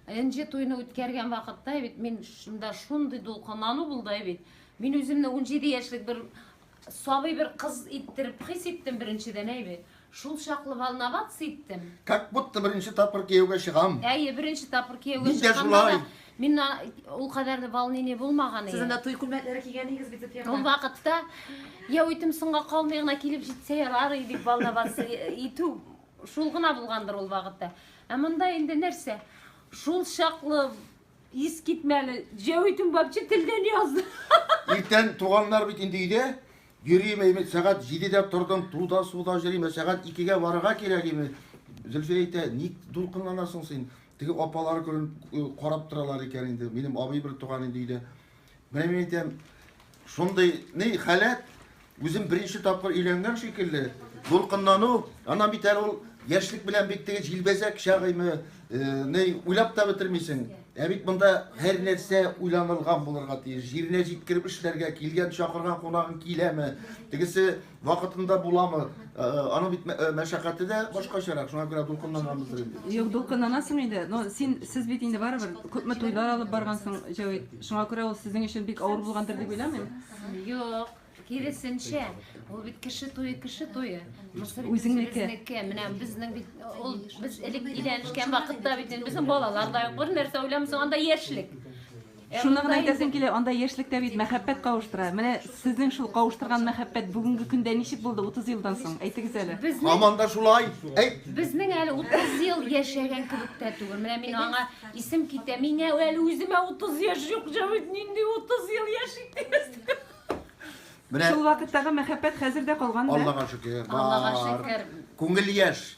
Энҗе туйны үткәргән вакытта бит мин шунда шундый дулкынлану булды бит. Мин үземне 17 яшьлек бер сабый бер кыз иттереп хис иттем беренчедән әйбе. Шул чаклы волноваться иттем. Как будто беренче тапкыр кияүгә чыгам. Әйе, беренче тапкыр кияүгә чыкканда да Мин ул кадәр дә волнение булмаган иде. Сез анда туй күлмәкләре кигән идегез бит Зөфия ханым. Ул вакытта я үтем соңга калмый гына килеп җитсә ярар иде дип волноваться итү шул гына булгандыр ул вакытта. Ә монда инде нәрсә? Шул чаклы ис китмәле. Я үтем вообще телдән язды. Иртән туганнар бит инде өйдә. Йөрим, әйме, сәгать 7-дә тордым, туда суда җөрим, ә сәгать 2-гә барырга кирәк име. Зөлфия әйтә, ник дулкынланасың син? Теге апалар күрен карап торалар икән инде. Минем абый бер туган инде өйдә. Менә мин әйтәм, шундый ни халәт, үзем беренче тапкыр өйләнгән шикелле, дулкынлану, ана бит әле ул яшьлек белән бит теге җилбәзәк чагыймы, ни уйлап та бетермисең. Ә бит монда һәр нәрсә уйланылган булырга тиеш. Җиренә җиткереп эшләргә, килгән чакырган кунагың киләме, тегесе Вакытында буламы? Э, э, аның бит э, мәшәкате дә башкачарак, шуңа күрә дулкынланамыздыр инде. Юк, дулкынланасың инде. Но син сез бит инде барыбер күпме туйлар алып баргансың, Җәвит. Шуңа күрә ул сезнең өчен бик авыр булгандыр дип уйламыйм. Юк, киресенчә, ул бит кеше туе, кеше туе. Мисыр үзеңнеке. Менә безнең бит ул без элек өйләнешкән вакытта бит безнең балалар да юк, бер нәрсә уйламыйсың, анда яшьлек. Шуны гына әйтәсем килә, анда яшьлектә бит мәхәббәт кавыштыра. Менә сезнең шул кавыштырган мәхәббәт бүгенге көндә ничек булды 30 елдан соң? Әйтегез әле. Һаман да шулай. Әйт. Безнең әле 30 ел яшәгән кебек тә түгел. Менә мин аңа исем китә. Миңа әле үземә 30 яшь юк, җавит, нинди 30 ел яшик дигез. Менә Шул вакыттагы мәхәббәт хәзер дә калган да. Аллага шөкер. Аллага шөкер. Күңел яшь.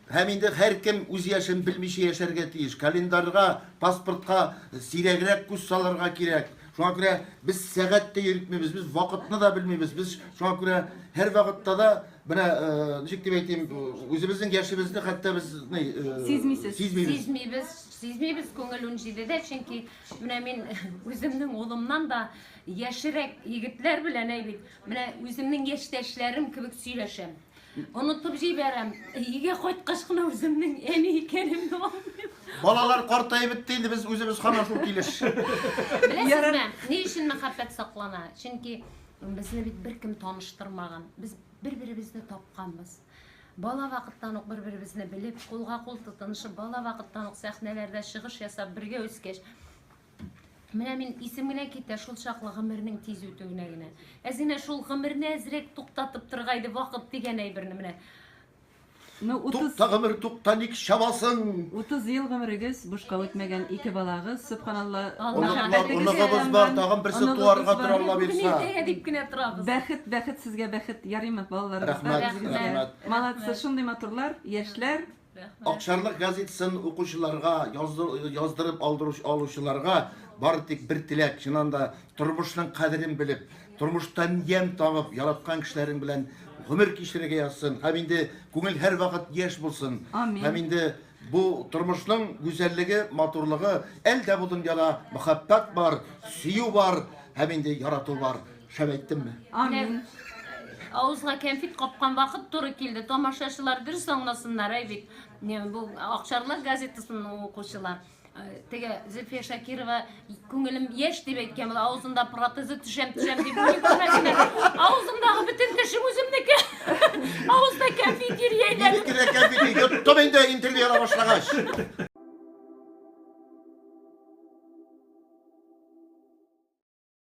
Һәм инде һәркем үз яшен белмичә яшәргә тиеш. Календарьга, паспортка сирәгрәк күз салырга кирәк. Шуңа күрә без сәгать тә йөртмибез, без вакытны да белмибез. Без шуңа күрә һәрвакытта да менә ничек дип әйтим, үзебезнең яшебезне хәтта без сизмисез. Сизмибез, сизмибез күңел унҗидедә, чөнки менә мин үземнең улымнан да яшерәк егетләр белән әйбит, менә үземнең яшьтәшләрем кебек сөйләшәм. Онытып җибәрәм. Өйгә кайткач кына үземнең әни икәнемне аңлыйм. Балалар картаеп бетте инде, без үзебез һаман шул килеш. Беләсезме, ни өчен мәхәббәт саклана? Чөнки безне бит беркем таныштырмаган. Без бер-беребезне тапканбыз. Бала вакыттан ук бер-беребезне белеп, кулга-кул тотынышып, бала вакыттан ук сәхнәләрдә чыгыш ясап, бергә үскәч, Менә мин исем генә китә шул чаклы гомернең тиз үтүенә генә. Әзинә шул гомерне әзрәк туктатып торга иде вакыт дигән әйберне менә. Ну, 30 Тукта гомер, тукта ник чабасың? 30 ел гомерегез бушка үтмәгән, ике балагыз, субханалла. Оныклар, оныгыбыз бар, тагын берсе туарга тора Алла бирса. Иртәгә дип кенә торабыз. Бәхет, бәхет сезгә бәхет, ярыймы балаларыбызга? Рәхмәт, рәхмәт. Молодцы, шундый матурлар, яшьләр, Рәхмәт. Акчарлык газетасын укучыларга, яздырып алучыларга бары тик бер теләк, чыннан да тормышның кадерен белеп, тормыштан ямь табып, яраткан кешеләрең белән гомер кичерергә язсын. Һәм инде күңел һәрвакыт яшь булсын. Амин. Һәм инде бу тормышның гүзәллеге, матурлыгы, әлдә бу дөньяда мәхәббәт бар, сөю бар һәм инде ярату бар. Шәп әйттемме? Амин. Авызга кәнфит капкан вакыт туры килде. Тамашачылар дөрес аңласыннар, әй бит. Бу Акчарлар газетасының укучылар. Э, теге Зөлфия Шакирова күңелем яшь дип әйткән була, авызында протезы төшәм төшәм дип күрмәдеңме? Авызымдагы бөтен тешем үземнеке. Авызда кәнфит йөри әйләнеп. Минеке дә кәнфит йоттым инде интервью ала башлагач.